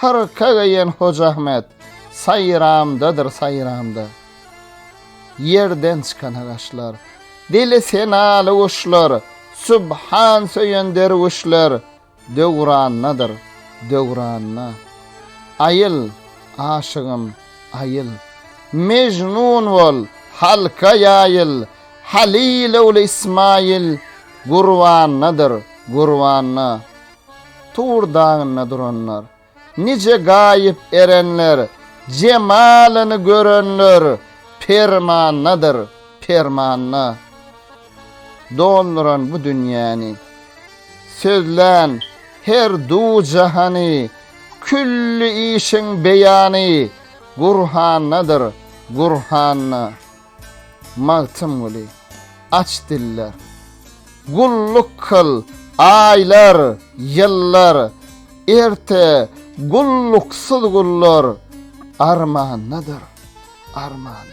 Hyrka geýen Hoja Ahmet saýramdadyr saýramda. Ýerden çykana gaşlar. Dili senaly guşlar, Subhan söýen derwüşler Döwrandadyr, döwranda. Aýyl, aşygym, aýyl. Mejnun bol, halka ýaýyl, Halyl ogly Ismaýyl Gurbandadyr, gurbanda. Tur dagynda duranlar. Nije gaýyp erenler. Jemalyny görenler. Permandadyr, permanda. Dolduran bu dünýäni. Sözlän her du-jahany. Külli işiň beýany. Gurhandadyr, gurhanda. Magtymguly, Aç diller, gulluk kyl, aýlar, ýyllar, Erte gulluksyz gullar armandadyr, armanda.